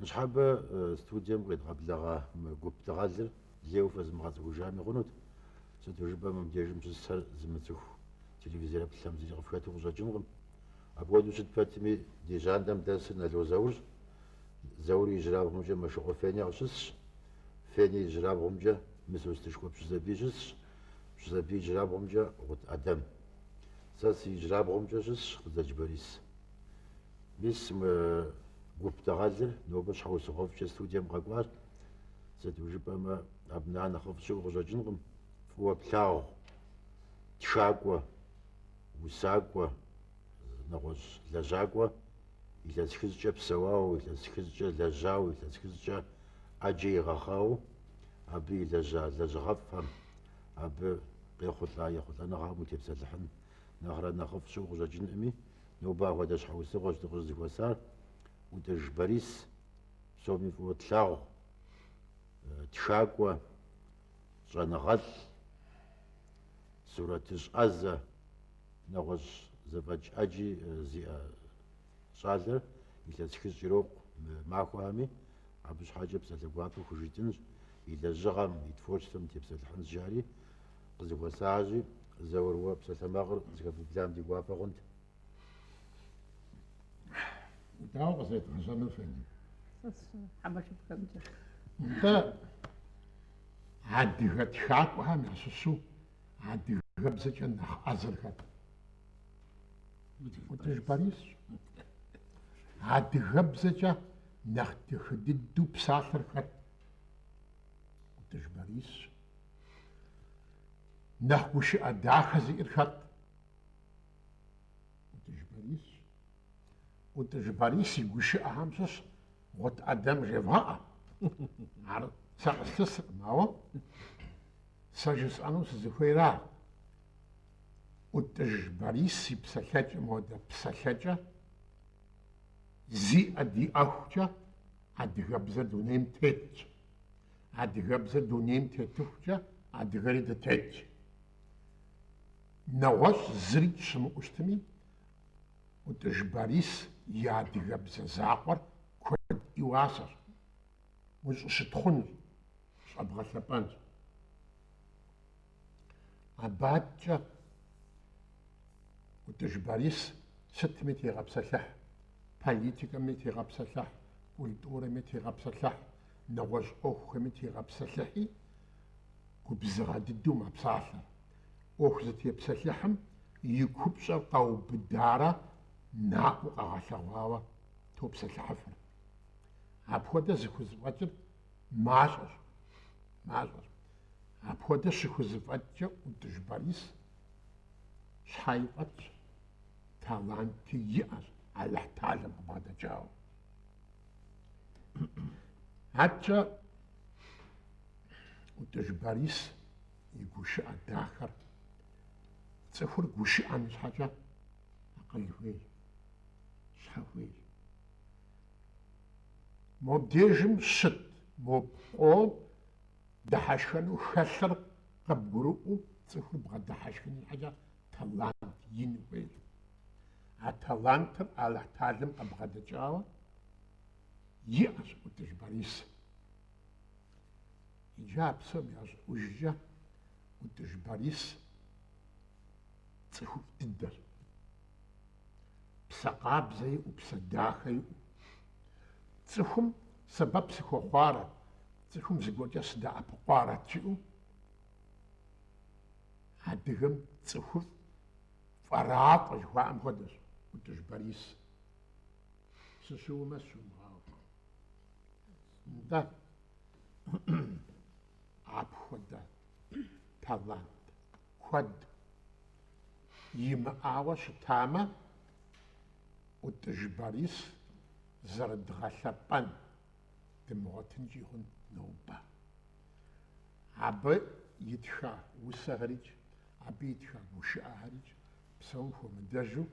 Ныщхьэбэ студием къедгъэблэгъа мы гуп дыгъэлыр лейуэ фэзмыгъэцӏыхужами хъунут, сыту жыпӏэмэ мыбдежым щысхэр зымыцӏыху телевизореплъхэм зыри къыфхэту къыщӏэкӏынкъым. Апхуэдэу щыт пэтми, ди жьантӏэм дэсыр Нало Заурщ. Заур и ижьырабгъумкӏэ Мэшыкъуэ Феня къыщысщ. Феня и ижьырабгъумкӏэ Мысостышхуэ Пщызэбий щысщ. Пщызэбий ижьырабгъумкӏэ Гъут Ӏэдэм. Сэ си ижьырабгъумкӏэ щысщ Ӏутӏыж Борис. Мис мы гуп дыгъэлыр нобэ щхьэусыгъуэфӏкӏэ студием къэкӏуащ. Сыту жыпӏэмэ, абы нэхъ нэхъыфӏ щыӏэу къыщӏэкӏынкъым, фӏыуэ плъагъу, тхакӏуэ, усакӏуэ, нэгъуэщӏ лэжьакӏуэ, илъэс хыщӏкӏэ псэуауэ, илъэс хыщӏкӏэ лэжьауэ, илъэс хыщӏкӏэ ӏэджэ игъэхъауэ абы илэжьа лэжьыгъэфӏхэм, абы къехъулӏа ехъулӏэныгъэхэм утепсэлъыхьын нэхърэ нэхъыфӏ щыӏэу къыщӏэкӏынкъыми, Нобэ апхуэдэ щхьэусыгъуэщ дыкъыщӏызэхуэсар, Ӏутӏыж Борис, псоми фӏыуэ тлъагъу, тхакӏуэ, щӏэныгъэлӏ, сурэтыщӏ ӏэзэ, нэгъуэщӏ зэфӏэкӏ ӏэджи зиӏэ щӏалэр илъэс хыщӏ ирокъу мы махуэхэми, абы щхьэкӏэ псалъэ гуапэ хужытӏэнщ, и лэжьыгъэм, и творчествэм тепсэлъыхьынщ жари, къызэхуэсащи, Заур, уэ псалъэмакъыр зэхэбублам ди гуапэ хъунт. Дауэ къызэдгъэщӏэну фӏэди? Нтӏэ, адыгэ тхакӏуэхэм ящыщу адыгэбзэкӏэ нэхъ ӏэзэр хэт? Ӏутӏыж Борисщ. Адыгэбзэкӏэ нэхъ дахэ дыдэу псалъэр хэт? Ӏутӏыж Борисщ. Нэхъ гушыӏэ дахэ зиӏэр хэт? Ӏутӏыж Борисщ. Ӏутӏыж Борис и гушыӏэхэм щыщ Гъут Ӏэдэм жевгъэӏэ. Ар сэ къыслъысыркъым, ауэ сэ жысӏэну сызыхуейра? Ӏутӏыж Борис и псэлъэкӏэм хуэдэ псэлъэкӏэ зиӏэ диӏэхукӏэ адыгэбзэр дунейм тетщ. Адыгэбзэр дунейм тетыхукӏэ адыгэри дытетщ. Нэгъуэщӏ зыри щымыӏэу щытми, Ӏутӏыж Борис и адыгэбзэ закъуэр куэд и уасэщ, ущӏыщытхъунщ, щӏэбгъэлъэпӏэнщ. Абы адкӏэ ӏутӏыж Борис сытми тегъэпсэлъыхь, политикэми тегъэпсэлъыхь, культурэми тегъэпсэлъыхь, нэгъуэщӏ ӏуэхухэми тегъэпсэлъыхьи, губзыгъэ дыдэу мэпсалъэ. ӏуэху зытепсэлъыхьым и купщӏэр къэубыдарэ наӏуэу къэгъэлъэгъуауэ топсэлъыхьыфыр. Апхуэдэ зыхузэфӏэкӏыр Мащӏэщ, мащӏэщ. Апхуэдэ щыхузэфӏэкӏкӏэ ӏутӏыж Борис щхьэи фӏэтщ, таланти иӏэщ Алыхь Талэм къыбгъэдэкӏауэ. Аркӏэ ӏутӏыж Борис и гушыӏэ дахэр цӏыхур гушыӏэн щхьэкӏэ акъыл хуейщ, щхьэ хуейщ. Мобдежым щыт мо пкъом дыхьэшхэну хэлъыр къыбгурыӏуэу цӏыхур бгъэдыхьэшхын щхьэкӏэ талант ин хуейщ. А талантыр Алыхь Талэм къыбгъэдэкӏауэ иӏэщ ӏутӏыж Борис. Иджы а псом ящӏыӏужкӏэ ӏутӏыж Борис цӏыхуфӏ дыдэщ. псэ къабзэ иӏэу, псэ дахэ иӏэу. Цӏыхум сэбэп сыхуэхъуарэт, цӏыхум зыгуэркӏэ сыдэӏэпыкъуарэт жиӏэу, адыгэм цӏыхуфӏ, фӏэрафӏэ жыхуаӏэм хуэдэщ ӏутӏыж Борис. Сыщыуэмэ сыщумыгъауэ. Нтӏэ, апхуэдэ талант. Куэд имыӏауэ щытамэ, ӏутӏыж Борис зэрыдгъэлъэпӏэн дымыгъуэтынкӏи хъун нобэ. Абы итха усэхэрикӏ, абы итха гушыӏэхэрикӏ псом хуэмыдэжу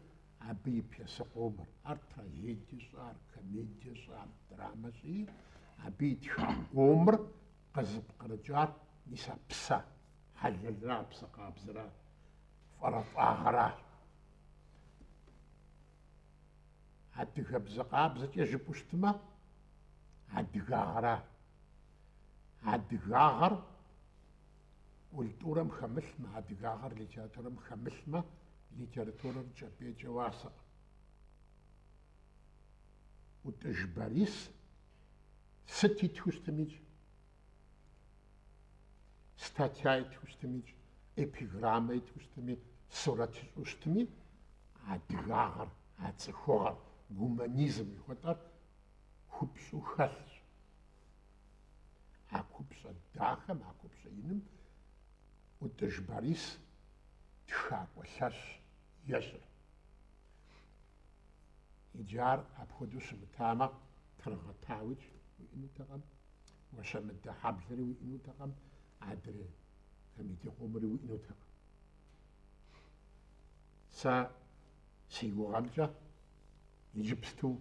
абы и пьесэ къомыр, ар трагедие щӏы, ар комедие щӏы, ар драмэ щӏи, абы итха къомыр къызыпкърыкӏар мис а псэ Хьэлэлра псэ къабзэра фӏэрэфӏагъэра. Адыгэбзэ къабзэкӏэ жыпӏэу щытмэ, адыгагъэра. Адыгагъэр культурэм хэмылъмэ, адыгагъэр литературэм хэмылъмэ, литературэр кӏэпӏейкӏэ уасэкъым. ӏутӏыж Борис сыт итхыу щытмикӏ? статья итхыу щытми, эпиграммэ итхыу щытми, сурэт ищӏу щытми, адыгагъэр, а цӏыхугъэр, гуманизм жыхуэтӏэр купщӏэу хэлъщ. А купщӏэ дахэм, а купщӏэ иным ӏутӏыж Борис тхакӏуэ лъэщ ещӏыр. Иджы ар апхуэдэу щымытамэ, Тыргъэтауи уиӏэнутэкъым, Гуащэмыдэ хьэблэри уиӏэнутэкъым, адрей комедие къомри уиӏэнутэкъым. Сэ си гугъэмкӏэ иджыпсту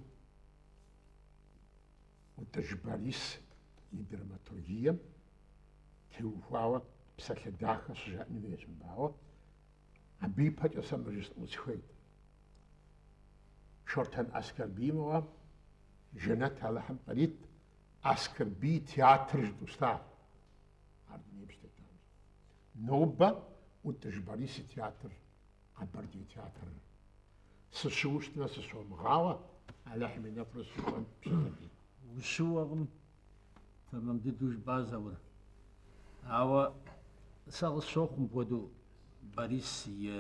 Утӏыж Борис и драматургием теухуауэ псалъэ дахэ щыжаӏэн хуейщ мыбауэ. Абы ипэкӏэ сэ мыр жысӏэну сыхуейт. Шортэн Аскэрбий мыгъуэ, жэнэт Алыхьым кърит, Аскэрбий и театр жытӏэу щытащ ар дунейм щытетам. Нобэ ӏутӏыж Борис и театр, Къэбэрдей театрыр. Сыщыуэу щытмэ, сыщомыгъауэ, Алыхьым и нэфӏыр зыщыхуэн пщӏынэри. Ущыуэкъым, тэмэм дыдэу жыпӏа Заур. Ауэ сэ къысщохъу мыпхуэдэу Борис и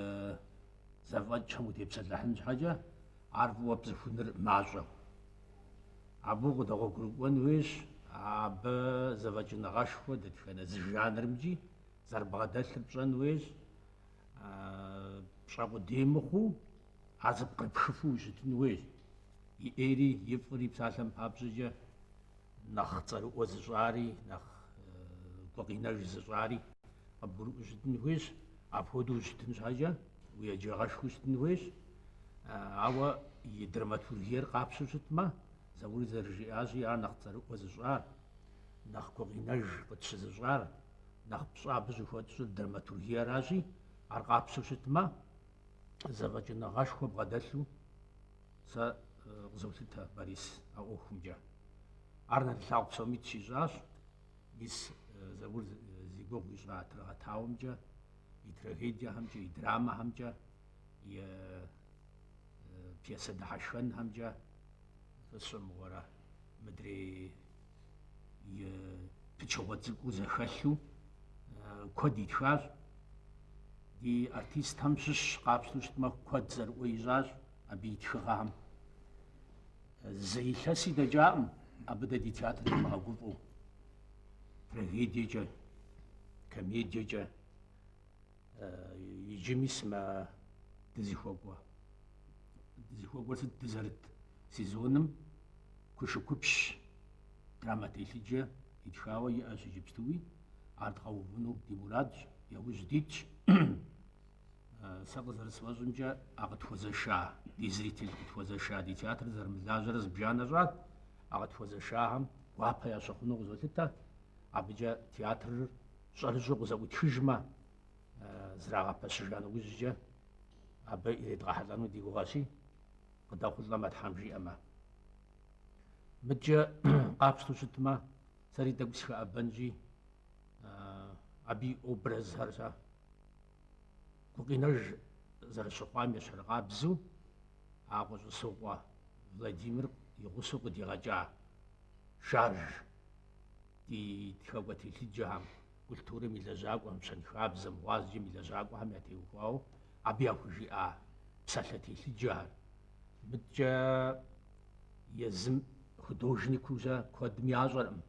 зэфӏэкӏхэм утепсэлъыхьын щхьэкӏэ, Ар фӏыуэ пцӏыхуныр мащӏэу. Абы укъыдэгъуэгурыкӏуэн хуейщ абы зэфӏэкӏыныгъэшхуэ дэтхэнэ зы жанрымкӏи зэрыбгъэдэлъыр пщӏэн хуейщ, пщӏэ къудей мыхъуу, ар зэпкърыпхыфу ущытын хуейщ. И ӏейри и фӏыри псалъэм папщӏэкӏэ нэхъ цӏэрыӏуэ зыщӏари, нэхъ гукъинэж зыщӏари къыбгурыӏуэу щытын хуейщ. Апхуэдэу ущытын щхьэкӏэ. Уеджагъэшхуэу щытын хуейщ, ауэ и драматургиер къапщтэу щытмэ, Заури зэрыжиӏащи, ар нэхъ цӏэрыӏуэ зыщӏар, нэхъ гукъинэж къытщызыщӏар, нэхъ пщӏэ абы щӏыхуэтщӏыр драматургиеращи, ар къапщтэу щытмэ, зэфӏэкӏыныгъэшхуэ бгъэдэлъу сэ къызолъытэ Борис а ӏуэхумкӏэ. Ар нэрылъагъу псоми тщищӏащ, мис Заур зи гугъу ищӏа Тыргъэтауэмкӏэ и трагедиехэмкӏэ, и драмэхэмкӏэ, и э, э, пьесэ дыхьэшхэнхэмкӏэ сэ сщӏэ мыгъуэрэ мыдрей и пычыгъуэ цӏыкӏуу зэхэлъу э, куэд итхащ. Ди артистхэм щыщ къапщтэу щытмэ, куэд цӏэрыӏуэ ищӏащ абы и тхыгъэхэм. Зы илъэси дэкӏакъым абы дэ ди театрым димыгъэгуфӏэу. Трагедиекӏэ, комедиекӏэ иджы мис мы дызыхуэкӏуэ. Дызыхуэкӏуэр сыт? Дызэрыт сезоным Кушыкупщ драмэ телъыджэ итхауэ иӏэщ иджыпстуи. Ар дгъэувыну ди мурадщ, яужь дитщ. Сэ къызэрысфӏэщӏымкӏэ, а къытхуэзэша, ди зритель къытхуэзэша, ди театр зэрымылажьэрэ зыбжанэ щӏат, а къытхуэзэшахэм гуапэ ящыхъуну къызолъытэ, абыкӏэ театрыр щӏэрыщӏэу къызэӏутхыжмэ, зэрагъэпэщыжа нэужькӏэ абы иридгъэхьэлӏэну ди гугъэщи, къыдэхъулӏэмэ, Тхьэм жиӏэмэ. Мыдкӏэ къапщтэу щытмэ, сэри тӏэкӏу сыхэӏэбэнщи, абы и образхэр сэ Гукъинэж зэрыщыхъуам ещхьыркъабзэу а Кӏуэщӏысокъуэ Владимир и гъусэу къыдигъэкӏа шарж ди тхэкӏуэ телъыджэхэм, культурэм и лэжьакӏуэхэм, щэнхабзэм, гъуазджэм и лэжьакӏуэхэм ятеухуауэ абы яхужиӏа псалъэ телъыджэхэр, мыдкӏэ езым художникыу-щэ куэдым ящӏэркъым.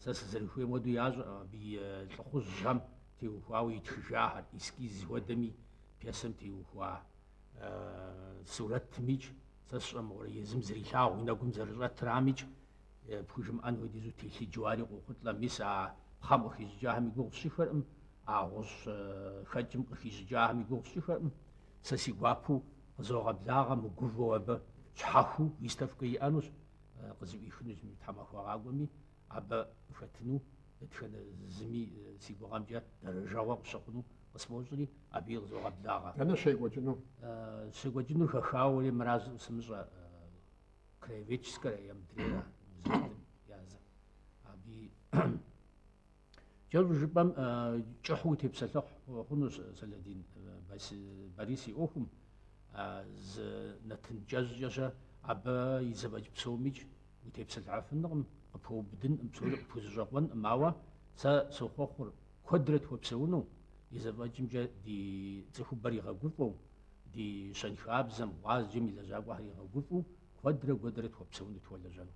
Сэ сызэрыхуейм хуэдэу ящӏэркъым абы и лӏыхъужьхэм теухуауэ итхыжахэр, эскиз хуэдэми пьесэм теухуа сурэтымикӏ, сэ сщӏэмыгъуэрэ езым зэрилъагъу, и нэгум зэрыщӏэтрамикӏ, пхужымыӏэн хуэдизу телъыджэу ари къохъулӏэ. Мис а пхъэм къыхищӏыкӏахэм и гугъу сщӏыхэркъым, а гъущӏхэкӏым къыхищӏыкӏахэм и гугъу сщӏыхэркъым. Сэ си гуапэу къызогъэблагъэ мыгувэу абы щхьэхуу выставкэ иӏэнущ. къызыӏуихынущ мы тхьэмахуэ къакӏуэми, абы хэтыну дэтхэнэ зыми си гугъэмкӏэ дэрэжэгъуэ къыщыхъуну къысфӏощӏри, абыи къызогъэблагъэ. Дэнэ щекӏуэкӏыну? Щекӏуэкӏынур хэхауэри мыращ сымыщӏэ, Краеведческэрэ е мыдрейрэ музеитӏым языр. Абыи. Кӏэщӏу жыпӏэм кӏыхьу утепсэлъыхь хъунущ, Сэлэдин, Борис и ӏуэхум, зы нэтын кӏэщӏкӏэ-щэ абы и зэфӏэкӏ псомикӏ утепсэлъыхьэфынкъым, къыпхуэубыдынкъым, псори къыпхузэщӏэкъуэнкъым, ауэ сэ сохъуэхъур куэдрэ тхуэпсэуну, и зэфӏэкӏымкӏэ ди цӏыхубэр игъэгуфӏэу, ди щэнхабзэм, гъуазджэм и лэжьакӏуэхэр игъэгуфӏэу куэдрэ-куэдрэ тхуэпсэуну, тхуэлэжьэну.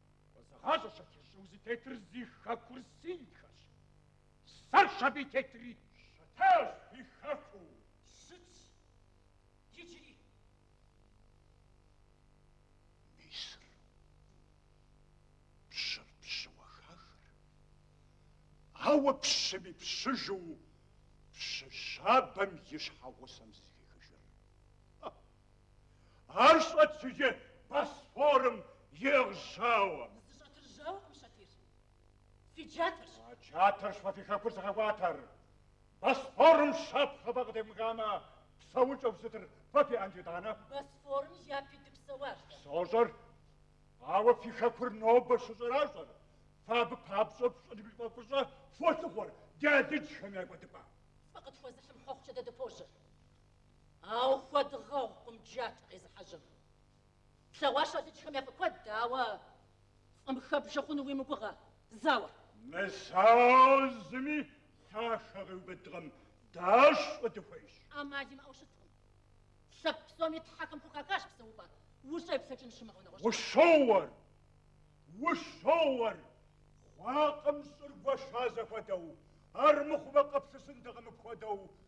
Къызыгъащӏэщ абы щӏы узытетыр зи хэкур синдхэщ. Сэрщ абы и тетри. Щытащ ди хэку. Сыт? Иджыри. Мысыр. Пщыр пщыуэ хахыр. Ауэ пщым и пщыжу пщы щабэм и щхьэгъусэм зыхехыжыр. Ар щӏэтщ иджы Босфорым и жьауэ. Зыщӏэтыр жьауэкъым, Шатир. Фи джатэрщ. А джатэрщ фэ фи хэкур зыгъэкӏуатэр. Босфорым щапхъэ фэ къытевмыхамэ, псэукӏэу сытыр фэ фиӏэнт итӏанэ? Босфорым япи дыпсэуащ дэ. Сощӏэр. Ауэ фи хэкур нобэ щыщӏэращӏэр, фэ абы папщӏэ фщӏын ипӏэ фӏыщӏэ фолъыхъуэр ди алыджхэм я кӏуэдыпӏэ. Фӏы къытхуэзыхьым хъуэхъукӏэ дэ дыпожьэ. Ауэ хуэдгъэгъукъым джатэ къезыхьэжьэм. Тлъэгъуащ алыджхэм я фӏы куэд дэ, ауэ фӏым хэббжэ хъуну уи мыгугъэ зауэр. Мызауэу зыми лъахэ къиубыдкъым, дэ щӏыфӏ дыхуейщ. Амал имыӏэу щыткъым. Лъэпкъ псоми тхьэхэм хухахащ псэупӏэ, ущӏеплъэкӏын щымыӏэ нэгъуэщӏ. Ущоуэр, ущоуэр, хъуакъым щӏыр гуэша зэхуэдэу, армыхъумэ къыплъысынтэкъым мыпхуэдэу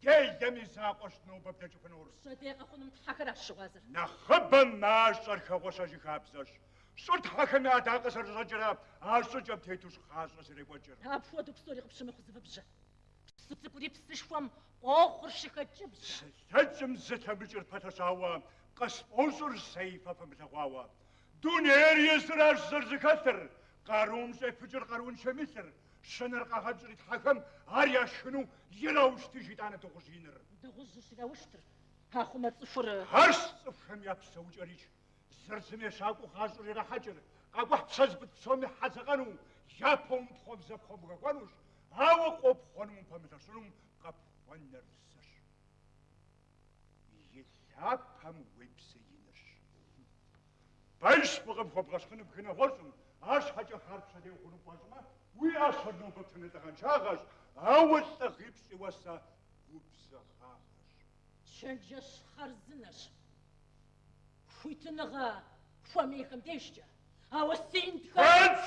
Делэм и закъуэщ нобэ блэкӏыфынур. Пщэдей къэхъунум тхьэхэращ щыгъуазэр. Нэхъыбэм мащӏэр хэгъуэщэжы хабзэщ. Щӏыр тхьэхэм я ӏэдакъэ зэрыщӏэкӏрэ а щӏыкӏэм тетущ гъащӏэр зэрекӏуэкӏыр. Апхуэдэу псори къыпщымыхъу зывыбжьэ. Псы цӏыкӏури псышхуэм къохъур щыхэкӏыбзэ. Зылъэкӏым зылъэмыкӏыр пэлъэщауэ къысфӏощӏыр зэи фэ фымылъэгъуауэ. Дунейр езыращ зэрызэхэлъыр, къарум щӏефыкӏыр къарууншэм и лъыр. Щынэр къагъэщӏри тхьэхэм ар яшхыну ираущтыж итӏанэ дыгъужь иныр. Дыгъужьыр щыраущтыр пахъумэ цӏыхур. Арщ цӏыхухэм я псэукӏэрикӏ зыр зым ещакӏуэу гъащӏэр ирахьэкӏыр, къакӏухь псэ зыпыт псоми хэдзэкъэну, япэ умыпхъуэм зы пхуэмыхэхуэнущ, ауэ къопхъуэнум упэмылъэщынум къыпхуэнэр зыщ. И лъапэм уебзеинырщ. Пэжщ, фӏыкъым хуэбгъэщхъыну бгыр нэгъуэщӏым, арщхьэкӏэ хъер пщэдей хъуну пфӏэщӏмэ, уи ӏэщэр нобэ птыныр лӏыгъэншагъэщ, ауэ лӏыгъипщӏ и уасэ губзыгъагъэщ. Чэнджэщ хъарзынэщ, хуитыныгъэ хуэмейхэм дежкӏэ, ауэ синдхэр. Пэжщ!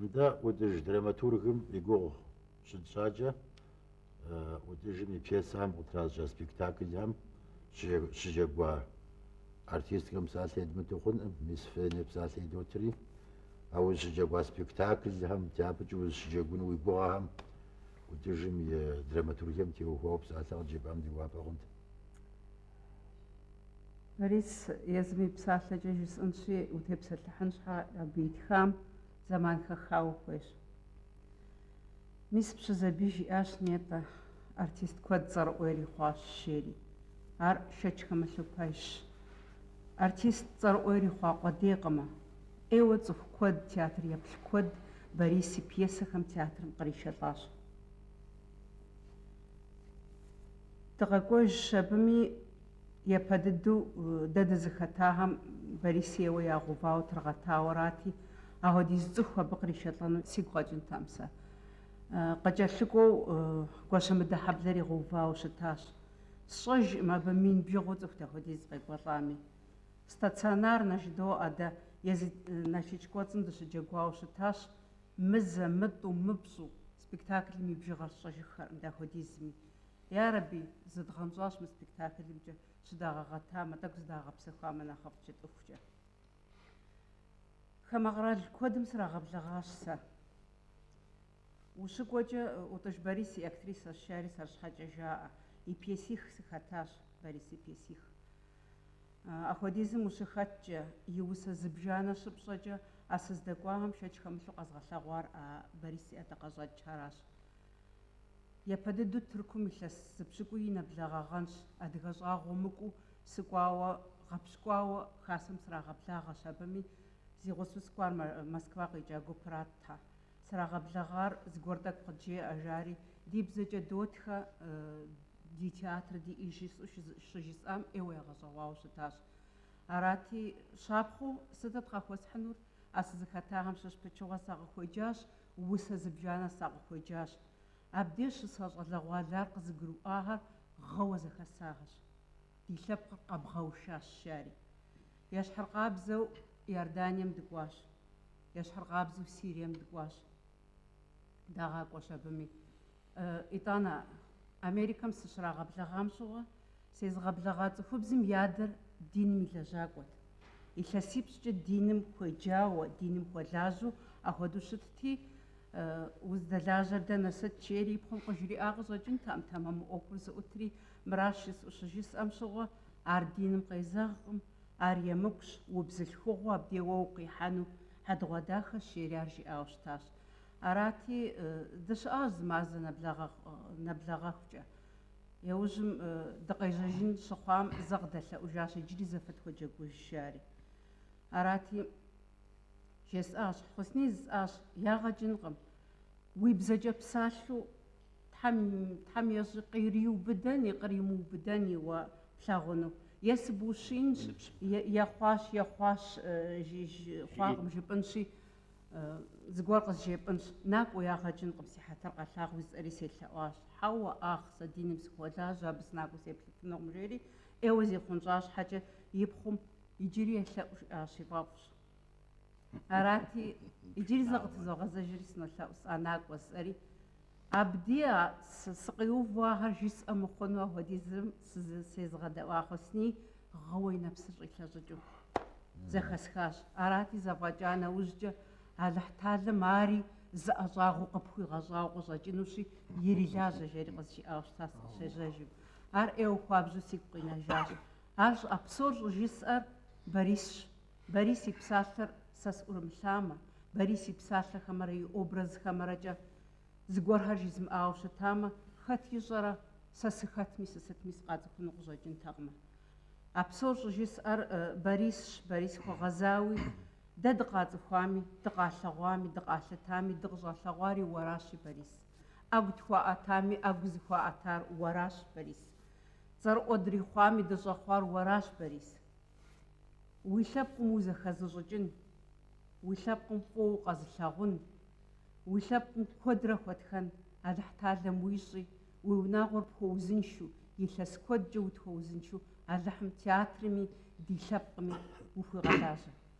Мыдэ ӏутӏыж драматургым и гугъу щытщӏакӏэ, ӏутӏыжым и пьесэхэм къытращӏа спектаклхэм щыджэгуа артисткэм псалъэ едмыту хъункъым, мис Феня псалъэ идотри. А узыщыджэгуа спектаклхэм, дяпэкӏи узыщыджэгуну уи гугъэхэм, ӏутӏыжым и драматургием теухуауэ псалъэ къыджепӏам ди гуапэ хъунт. Борис, езым и псалъэкӏэ жысӏэнщи, утепсэлъыхьын щхьа абы итхам зэман хэхауэ хуейщ. Мис Пщызэбий жиӏащ нетӏэ, артист куэд цӏэрыӏуэ ирихъуащ жери. Ар шэч хэмылъу пэжщ. Артист цӏэрыӏуэ ирихъуа къуэдейкъымэ. ӏейуэ цӏыху куэд, театр еплъ куэд Борис и пьесэхэм театрым къришэлӏащ. Дыкъэкӏуэжщ абыми япэ дыдэу дэ дызыхэтахэм Борисейуэ ягъэувауэ Тыргъэтауэрати, ахуэдиз цӏыху абы къришэлӏэну сигу къэкӏынтэкъым сэ. Къыкӏэлъыкӏуэу Гуащэмыдэхьэблэр игъэувауэ щытащ. Сщӏэжкъым абы мин бжыгъэу цӏыху дапхуэдиз къекӏуэлӏами. Стационарнэ жыдоӏэ дэ, езы Налшыч кӏуэцӏым дыщыджэгуауэ щытащ, мызэ, мытӏу, мыпщӏу, Спектаклым и бжыгъэр сщӏэжыххэркъым дапхуэдизми. Ярэби, зыдгъэнщӏащ мы спектаклымкӏэ щыдагъэгъэтамэ, тӏэкӏу зыдагъэпсэхуамэ нэхъыфӏт жытӏэхукӏэ. Хамэ къэрал куэдым срагъэблэгъащ сэ. Ущыкӏуэкӏэ, ӏутӏыж Борис и актрисэщ, жари сэр щхьэкӏэ жаӏэ. И пьесих сыхэтащ, Борис и пьесих. Апхуэдизым ущыхэткӏэ, и усэ зыбжанэ щыпщӏэкӏэ, а сыздэкӏуахэм шэч хэмылъу къэзгъэлъэгъуар а Борис и ӏэдакъэщӏэкӏхэращ. Япэ дыдэу Тыркум илъэс зы пщыкӏуий нэблэгъагъэнщ, адыгэ щӏагъуэ мыкӏуу сыкӏуауэ, гъэпщкӏуауэ Хасэм срагъэблагъэщ, абыми зи гъусэу сыкӏуар Москва къикӏа гупырат тхьэ. Срагъэблэгъар зыгуэр тӏэкӏу къыджеӏэ, жари, ди бзэкӏэ дотхэ, ди театр диӏэщ жысӏэу щыжысӏам ӏейуэ ягъэщӏэгъуауэ щытащ. Арати, щапхъэу сытыт къахуэсхьынур? А сызыхэтахэм щыщ пычыгъуэ сакъыхуеджащ, усэ зыбжанэ сакъыхуеджащ. Абдеж щыса щӏалэгъуалэр къызыгурыӏуахэр гъыуэ зэхэсахэщ. Ди лъэпкъыр къэбгъэушащ, жари, ещхьыркъабзэу Иорданием дыкӏуащ. Ещхьыркъабзэу Сирием дыкӏуащ. Дагъакӏуэщ абыми. Итӏанэ, Америкэм сыщрагъэблэгъам щыгъуэ, сезыгъэблэгъа цӏыхубзым и адэр диным и лэжьакӏуэт. Илъэсипщӏкӏэ диным хуеджауэ, диным хуэлажьэу ахуэдэу щытти, Уздэлажьэр дэнэ сыт жери и пхъум къыжриӏа къыщӏэкӏынтэкъым, тэмэму ӏуэхур зыӏутри, мыращ жысӏэу щыжысӏэм щыгъуэ, ар диным къезэгъкъым. Ар емыкӏущ, убзылъхугъэу абдей уэ укъихьэну хьэдэгъуэдахэщ жери ар жиӏауэ щытащ. Арати, дыщыӏащ зы мазэ нэблэгъэхукӏэ. Иужьым дыкъежьэжын щыхъуам зэ къыдэлъэӏужащ иджыри зэ фытхуэджэгуж, жари. Арати, жесӏащ, Хьусни жысӏащ, ягъэ кӏынкъым, уи бзэкӏэ псалъэу Тхьэм, Тхьэм ещӏэ, къыриубыдэни къримыубыдэни уэ плъагъуну. Е сыбущинщ, е, е хъуащ, е хъуащ, жи, жи, хъуакъым жыпӏынщи, зыгуэр къызжепӏынщ. Накӏуэ, ягъэ кӏынкъым, си хьэтыр къэлъагъу жысӏэри селъэӏуащ. Хьэуэ, ахъ, сэ диным сыхуолажьэ, абы сынакӏуэ сеплъыфынукъым, жери ӏейуэ зихъунщӏа щхьэкӏэ, и пхъум, Иджыри елъэӏу, жиӏащ, и фӏэфӏщ. Арати, иджыри зэ къытызогъэзэжри сынолъэӏу сэ, накӏуэ жысӏэри. Абди сыкъиувэу ахэр жысӏэ мыхъуну апхуэдизым сезыгъэдэӏуа Хъусини гъыуэ и нэпсыр щӏилъэщӏыкӏыу зэхэсхащ. Арати, зэфӏэкӏа нэужькӏэ Алыхьталэм ари зы ӏэщӏагъэу къыпхуигъэщӏауэ къыщӏэкӏынущи, ирилажьэ, жери къызжиӏауэ щытащ сыкъыщежьэжым. Ар ӏейуэ хуабжьу сигу къинэжащ. Ар щӏы, а псор щӏыжысӏэр Борисщ. Борис и псалъэр сэ сӏурымылъамэ, Борис и псалъэхэмрэ и образхэмрэкӏэ зыгуэрхэр жызмыӏауэ щытамэ, хэт ищӏэрэ, сэ сыхэтми, сысытми сыкъацӏыхуну къыщӏэкӏынтэкъымэ. А псор щӏыжысӏэр Борисщ, Борис хуэгъэзауи, дэ дыкъацӏыхуами, дыкъалъэгъуами, дыкъалъытами, дыкъыщӏалъэгъуари уэращи, Борис. ӏэгу тхуаӏэтами, ӏэгу зыхуаӏэтар уэращ, Борис. Цӏэрыӏуэ дрихъуами, дыщӏэхъуар уэращ, Борис. Уи лъэпкъым узэхэзыщӏыкӏын, уи лъэпкъым фӏыуэ укъэзылъагъун, уи лъэпкъым куэдрэ хуэтхэн Алыхьталэм уищӏи, уи унагъуэр пхуэузыншэу, илъэс куэдкӏэ утхуэузыншэу Алыхьым театрми, ди лъэпкъми ухуигъэлажьэ.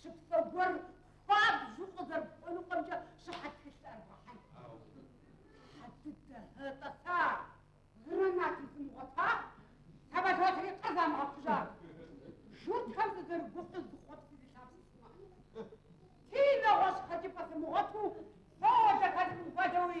щыпсэу гуэр хуабжьу къызэрыпхуэнукъымкӏэ щыхьэт тхылъ арбгъэхьэн. Хьэ дыдэ, тӏэса, гранати зымыгъуэта, самолетри къызамыгъэхъужа, журтхэм сызэрыгуфӏыр зыхъуэт сызылъапсэу сымыӏэнукъым. Си нэгъуэщӏ хэкӏыпӏэ сымыгъуэту, содэ хэлъым хуэдэуи,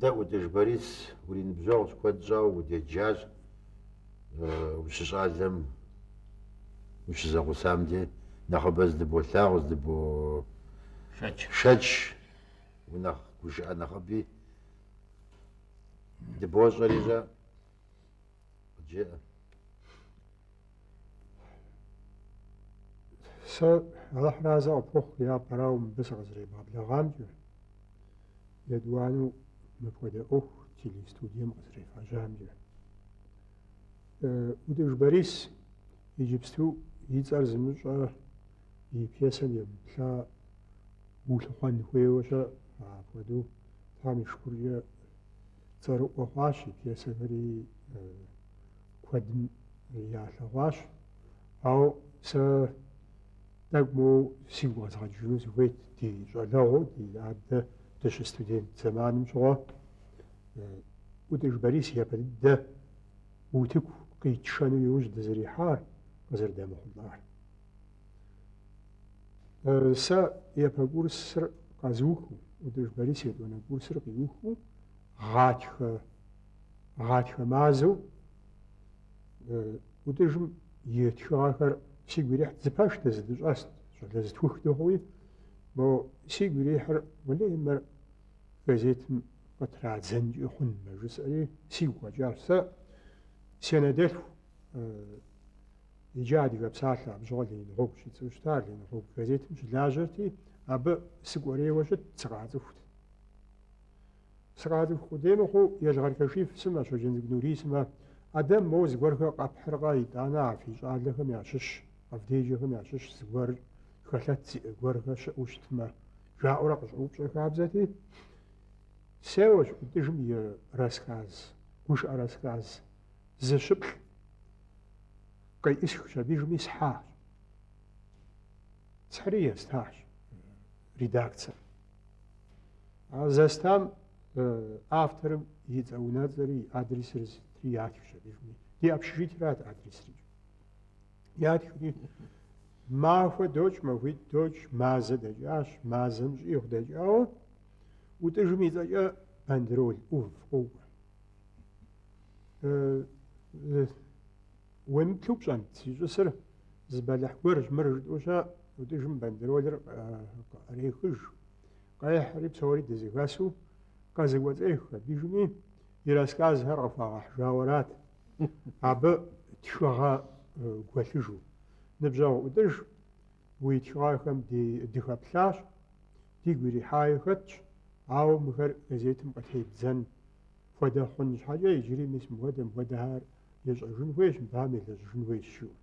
Дэ ӏутӏыж Борис уриныбжьэгъущ, куэд щӏауэ удеджащ ущыщӏалэм, ущызэгъусам де. Нэхъыбэ зыдыболъагъу, зыдыбошэч. унэхъ гушыӏэ нэхъыби дыбощӏэри жьэ къыджеӏэ. Сэ Алыхь разэ къыпхухъу япэрауэ мыбы сыкъызэребгъэблэгъамкӏэ, етӏуанэу мыпхуэдэ ӏуэху телестудием къызэрефхьэжьамкӏэ. ӏутӏыж Борис иджыпсту и цӏэр зымыщӏэ и пьесэм емыплъа Улъыхъуэн хуейуэ щыӏэкъым. Апхуэдэу Тхьэм и шыкуркӏэ цӏэрыӏуэ хъуащ, и пьесэхэри куэдым ялъэгъуащ. Ауэ сэ тӏэкӏу моуэ сигу къэзгъэкӏыжыну сыхуейт ди щӏалэгъуэу, ди адэ дыщыстудент зэманым щыгъуэ ӏутӏыж Борис япэ дыдэ утыку къитшэну иужь дызэрихьар, къызэрыдэмыхъулӏар. Сэ япэ курсыр къэзухыу, ӏутӏыж Борис етӏуанэ курсыр къиухыу, гъатхэ, гъатхэ мазэу ӏутӏыжым и тхыгъэхэр сигу ирихьт, зы пэш дызэдыщӏэст, щӏалэ зытхух дыхъуи, мо сигу ирихьыр уэлей мыр газетым къытрадзэнкӏи хъунмэ жысӏэри сигу къэкӏащ. Сэ си анэдэлъху Иджы Адыгэ псалъэ абы щыгъуэ Ленин гъуэгущ и цӏэу щытар, Ленин гъуэгу газетым щылажьэрти, абы сыкӏуэрейуэ щытт, сыкъацӏыхут. Сыкъацӏыху къудей мыхъуу, Елгъэр Кашиф сымэ, Щоджэнцӏыкӏу Нурий сымэ, Адэм моуэ зыгуэрхэр къэпхьыркъэ, итӏанэ а фи щӏалэхэм ящыщ, къэвдеджэхэм ящыщ зыгуэр хэлъэт зиӏэ гуэрхэр щыӏэу щытмэ, жаӏэурэ къыщӏэупщӏэ хабзэти, сеуэщ, ӏутӏыжым и рассказ, гушыӏэ рассказ. зыщыплӏ къеӏысхщ, абы ижыми схьащ. Схьри естащ редакцэм. А зэстам авторым и цӏэ-унэцӏэри, и адресыр сытри ятхщ абы ижыми. Ди общежитырат адресри. Ятхри махуэ докӏ, махуитӏ докӏ, мазэ дэкӏащ, мазэм щӏигъу дэкӏауэ, ӏутӏыжым и цӏэкӏэ бандероль, ӏув, къокӏуэ. Уемыплъу пщӏэнт, зищӏысыр зы бэлыхь гуэрщ, мыр жытӏэу щэ, ӏутӏыжым бандеролыр кърехыж, къехьри псори дызэхэсу къызэкӏуэцӏех. Абыжми и рассказхэр къыхуагъэхьжауэрат, абы тхыгъэ гуэлъыжу. Ныбжьэгъу ӏутӏыж Уи тхыгъэхэм дыхэплъащ, дигу ирихьаи хэтщ, ауэ мыхэр газетым къытебдзэн хуэдэ хъун щхьэкӏэ иджыри мис мыхуэдэ мыхуэдэхэр ещӏэжын хуейщ, мыбыхэм елэжьыжын хуейщ жиӏэу.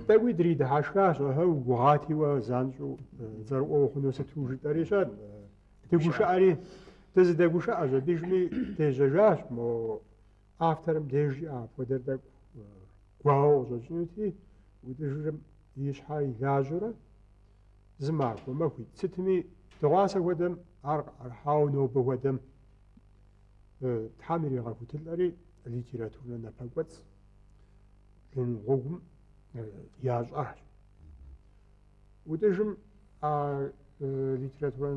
Тӏэкӏуи дридыхьэшхащ, ыхьы, угугъати уэ занщӏэу цӏэрыӏуэ ухъуну сыту жытӏэри щэ, дыгушыӏэри, дызыдэгушыӏэщ, абыжми дежьэжащ, мо Авторым дежи апхуэдэр тӏэкӏу гуауэ къыщӏэкӏынути, ӏутӏыжырым и щхьэр илажьэурэ зы махуэ махуитӏ. Сытми, дыгъуасэ хуэдэм ар къыӏэрыхьауэ нобэ хуэдэм Тхьэм иригъэхутылӏэри литературнэ напэкӏуэцӏ Ленин гъуэгум ящӏащ. ӏутӏыжым а литературэ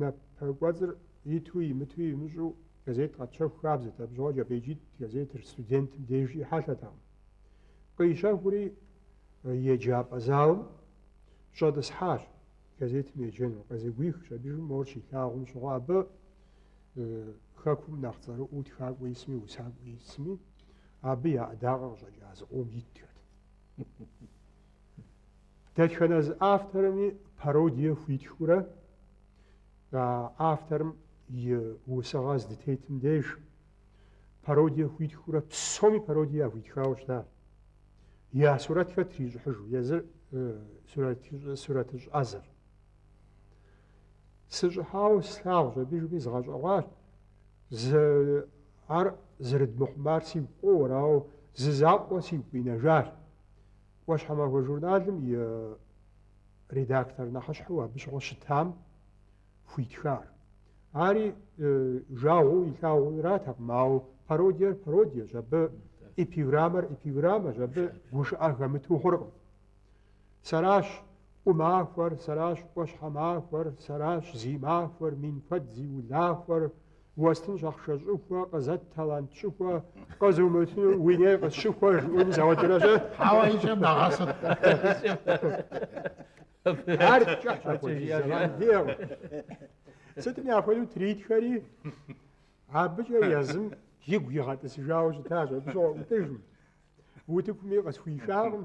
напэкӏуэцӏыр иту имыту имыщӏу газет къэтщэху хабзэт, абы щыгъуэ Кӏэпӏейкӏитӏ газетыр студентым дежи хьэлъэтэкъым. Къищэхури еджапӏэ залым щӏэтӏысхьащ газетым еджэну, къызэгуихщ абыжым мор щилъагъум щыгъуэ абы хэкум нэхъ цӏэрыӏуу тхакӏуэ исми усакӏуэ исми, абы я ӏэдакъэ къыщӏэкӏа зыкъом итхэт. Дэтхэнэ зы авторми пародие хуитхыурэ а авторым и усыгъэ здытетым деж пародие хуитхыурэ псоми пародие яхуитхауэ щыта. Я сурэтхэр трищӏыхьыжу, езыр сурэтыщӏ ӏэзэр. Сыщӏыхьауэ слъагъущ абы жыпӏи згъэщӏэгъуащ. Ар зэрыдмыхъумар сигу къоуэр, ауэ зы закъуэ сигу къинэжар. ӏуащхьэмахуэ журналым и редактор нэхьыщхьэу абы щыгъуэ щытам хуитхар. Ари жагъуэу илъагъуу аратэкъым, ауэ пародиер пародиещ, абы эпиграммэр эпиграммэщ, абы гушыӏэ хэмыту хъуркъым. Сэращ ӏумахуэр, сэращ ӏуащхьэмахуэр, сэращ зи махуэр, мин куэд зи улахуэр, Уэстынщ ахъшэ щӏыхуэ, къызэт талант щӏыхуэ, къызумытыну уи ней къысщыхуэ жыӏэну зауэдэращ. Хьэуэ икӏэ мэгъэсыр. Ар кӏыхьщ апхуэдиз зэман диӏэкъым. Сытми апхуэдэу тритхэри абыкӏэ езым игу игъэтӏысыжауэ щытащ, абы щыгъуэ ӏутӏыжым. Утыкуми къысхуишакъым.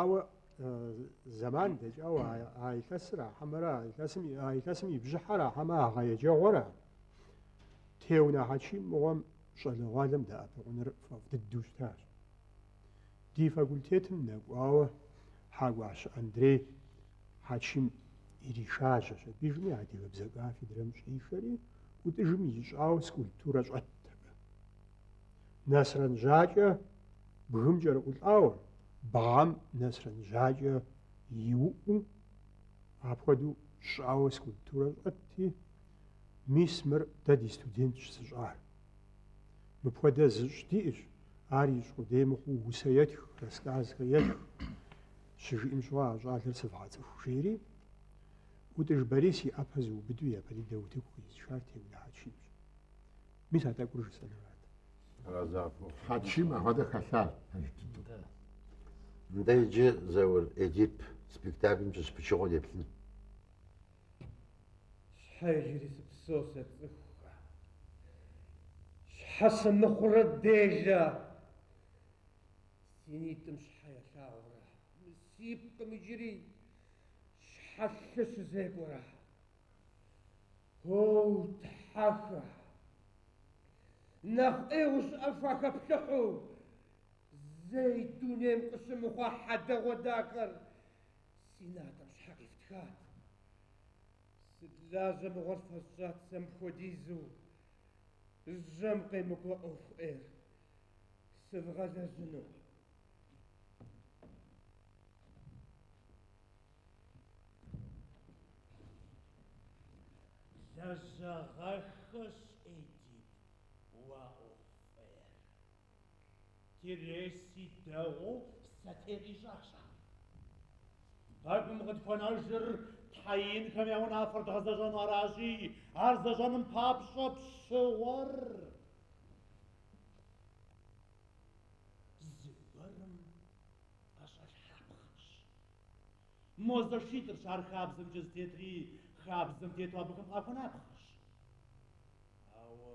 Ауэ зэман дэкӏауэ а илъэсыра хьэмэрэ а илъэсым и бжьыхьэра хьэмэ а гъэ еджэгъуэра Теунэ Хьэчим мыгъуэм щӏалэгъуалэм дэӏэпыкъуныр фӏэфӏ дыдэу щытащ. Ди факультетым нэкӏуауэ Хьэкӏуащэ Андрей Хьэчим иришажьэщ, абы ижыми адыгэбзэ кафедрэм щӏишэри, ӏутӏыжым ищӏауэ скульптурэ щӏэтт абы. Нэсрэн жьакӏэ бгым кӏэрыӏулӏауэ, бгъэм нэсрэн жьакӏэ иуӏуу, апхуэдэу щӏауэ скульптурэ щӏэтти, мис мыр дэ ди студентщ зыщӏар. Мыпхуэдэ зыщӏ диӏэщ, ар ищӏ къудей мыхъуу усэ етх, рассказхэ етх. Щыжиӏэм щыгъуэ а щӏалэр сывгъэцӏыху, жери ӏутӏыж Борис и ӏэпэ зыубыду япэ дыдэ утыку къизышар Теунэ Хьэчимщ. Мис а тӏэкӏур жысӏэнурат. Разафо. Хьэчим авадэ хэлъа пэж дыдэу. Да. Нтӏэ иджы Заур Эдип спектаклым щыщ пычыгъуэ деплъын. Щхьэ иджыри сыпсэу сэ цӏыхухэ. Щхьэ сымыхъурэ делэ. Си нитӏым щхьэ ялъагъурэ. Мы си пкъым иджыри щхьэ лъы щызекӏуэрэ. Оу, Тхьэхэ! Нэхъ ӏейуэ щыӏэ фахэплъыхьу, зэи дунейм къыщымыхъуа хьэдэгъуэдахэр си натӏэм щхьэ къифтхат. Сыт лажьэ мыгъуэр фэсщӏат сэ мыпхуэдизу жьэм къемыкӏуэ ӏуэху ӏейр сывгъэлэжьыну? Лэжьагъэххэщ Эдип уи ӏуэху фӏейр. Тиресий дэгъуэу сэтей къищӏащ ар. Тхьэкӏум къытхуэнэжыр тхьэ инхэм я унафэр дгъэзэщӏэн аращи, ар зэщӏэным папщӏэ пщыгъуэр зыгуэрым ӏэщӏэлъхьапхъэщ. Мо зэшитӏырщ ар хабзэмкӏэ зытетри, хабзэм тету абыхэм къахуэнапхъэщ. Ауэ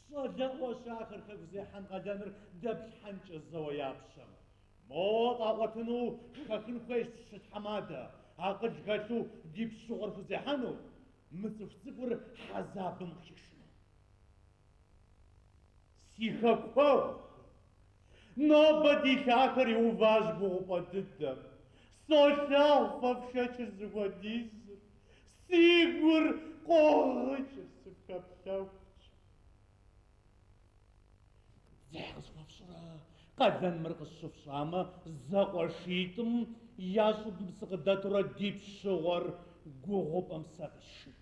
щӏалэгъуэщ ахэр хэку зехьэн къалэныр дэплъхьэнкӏэ зэуэ я пщэм. Мо тӏум якъуэтыну хэхын хуейщ зы тхьэмадэ, акъыл хэлъу ди пщыгъуэр хузехьэну, мы цӏыху цӏыкӏур хьэзабым къыхишыну. Си хэкуэгъухэ! Нобэ ди лъахэр иуващ гугъупӏэ дыдэм. Солъагъу фэ фшэчыр зыхуэдизыр, си гур къогъыкӏыр сыфхэплъэхукӏэ. Дзыхь къысхуэфщӏрэ, къалэн мыр къысщыфщӏамэ, зэ къуэшитӏым я щӏыбым сыкъыдэтурэ ди пщыгъуэр гугъупӏэм сэ къисшынт.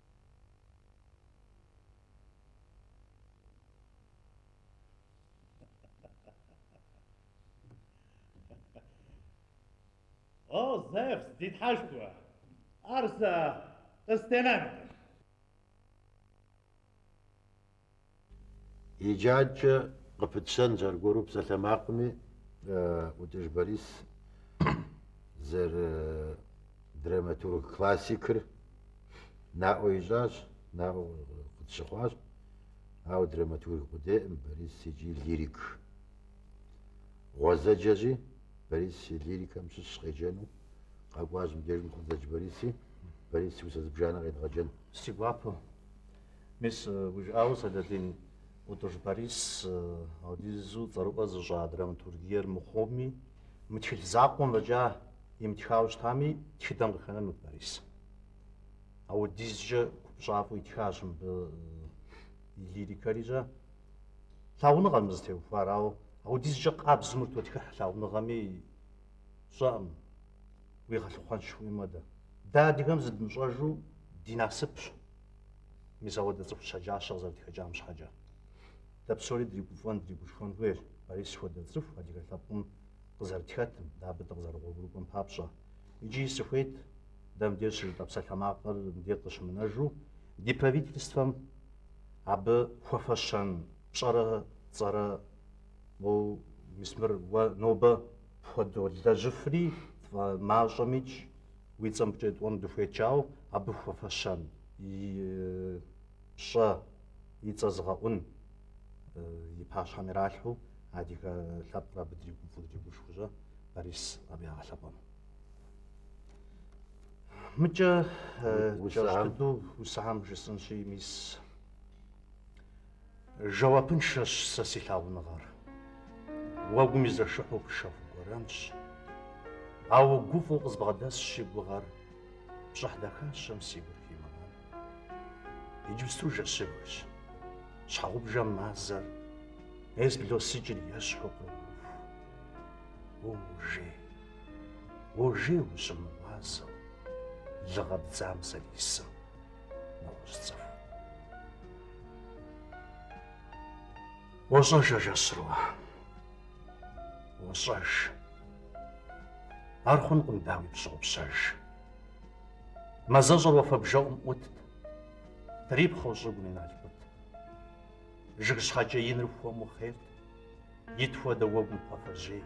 О, Зевс, ди тхьэшхуэ, ар сэ къыстенэнкъым. Иджы адэкӏэ къыпытщэнщ аргуэру псалъэмакъыми, Ӏутӏыж Борис зэрыдраматург классикыр наӏуэ ищӏащ, наӏуэ къытщыхъуащ, ауэ драматург къудейкъым Борис икӏи лирик. Гъуэзэджэщи, Борис и лирикэм щыщ къеджэну, къэкӏуащ мыбдежым Хъуэзэдж Бориси, Борис и усэ зыбжанэ къедгъэджэн. Си гуапэу. Мис, уи жыӏауэ Сэлэдин, Утӏыж Борис ауэдизу цӏэрыӏуэ зыщӏа драматургиер мыхъуми, мы тхыль закъуэм фӏэкӏа имытхауэ щытами, тхыдэм къыхэнэнут Борис. Ауэдизкӏэ купщӏафӏэу итхащ мыбы и лирикэрикӏэ. Лъагъуныгъэм зытеухуар, ауэ ауэдизкӏэ къабзэу мыр тотхыхь лъагъуныгъэми сщӏэкъым, уигъэлъыхъуэнщ хуейм хуэдэ. Дэ адыгэм зыдмыщӏэжу ди насыпщ. Мис ауэдэ цӏыху щэджащэ къызэрытхэкӏам щхьэкӏэ. Дэ псори дригуфӏэн, дригушхуэн хуейщ Борис хуэдэ цӏыху адыгэ лъэпкъым къызэрытхэтым, дэ абы дыкъызэрыгъуэгурыкӏуэм папщӏэ. Икӏи сыхуейт дэ мыбдеж щыжытӏэ псалъэмакъыр мыбдеж къыщымынэжу ди правительствэм абы хуэфэщэн пщӏэрэ цӏэрэ, моу, мис мыр уэ нобэ пхуэдолэжьыфри тфӏэмащӏэмикӏ, Уи цӏэ мыбыкӏэ итӏуэну дыхуейт жаӏэу абы хуэфэщэн, и пщӏэ, и цӏэ зыгъэӏун и пащхьэм иралъхьу адыгэ лъэпкъыр абы дригуфӏу, дригушхуэжу Борис абы ягъэлъэпӏэну. Мыкӏэ кӏэщӏ дыдэу усэхэм жысӏынщи, мис. Жэуапыншэщ сэ си лъагъуныгъэр. Уэгум изэшыхьу пшэху гуэрэнщ. Ауэ гуфӏэу къызбгъэдэсщ си гугъэр, пщӏыхь дахащэм си гур химынэн. Иджыпсту жэщыбгщ. Щхьэгъубжэм мазэр, ес блосыкӏыр ещхьу къыуху. Уожей, уожей ущымыгъуазэу, лыгъэ бдзам зэрисым. нэгъуэщӏ цӏыху. Уощӏэж а жэщыр уэ, уощӏэж. Ар хъункъым, дауи, пщыгъупщэж. Мазэщӏэр уафэ бжэӏум ӏутт, трипхъэу щӏыгум и налкъут. Жыг щхьэкӏэ иныр хуэму хъейрт, ит хуэдэ уэгум кхъуафэжьей.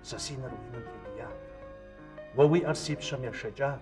Сэ си нэр уи нэм тедият, уэ уи ӏэр си пщэм ешэкӏат.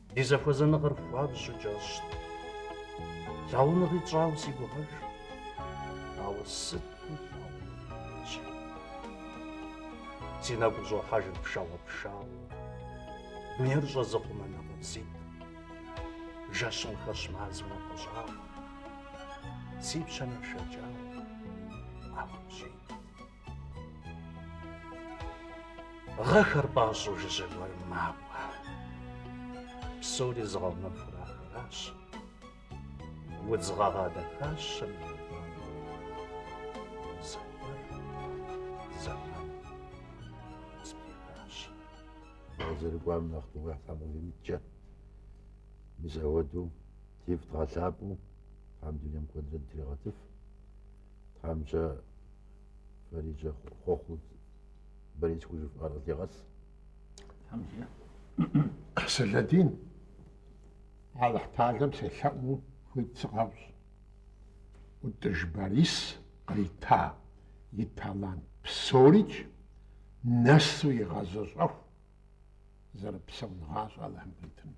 Ди зэхуэзэныгъэр хуабжьу кӏэщӏт. Лъагъуныгъи тщӏауэ си гугъэж. Ауэ сыту лъагъуныгъэр кӏий! Си нэгу щӏохьэжыр пшагъуэ пшагъуэу. Дунейр щӏэзыхъумэ нэ къабзитӏ. Жэщым хэщ мазэу напэщӏагъуэ. Си пщэ нэшэкӏауэ ӏэ хужьитӏ. Гъэхэр пӏащӏэу жыжьэ гуэрым макӏуэ. Псори зыгъэунэхур ахэращ. Удз гъэгъа дахащэм и зэрыкӏуам нэхъ тыгъэ Тхьэм къывимыткӏэ, мис апхуэдэу дифӏ дгъэлъапӏэу Тхьэм дунейм куэдрэ дытригъэтыф, Тхьэмщэ Фариджэ хъуэхъу Борис хужьыф къаргъдегъэс. Хьэмзэ. Сэлэдин. Алыхь талэм селъэӏуну хуит сыкъэфщӏ. Ӏутӏыж Борис кърита и талант псорикӏ нэсу игъэзэщӏэху зэрыпсэун гъащӏэ Алыхьым къритыну.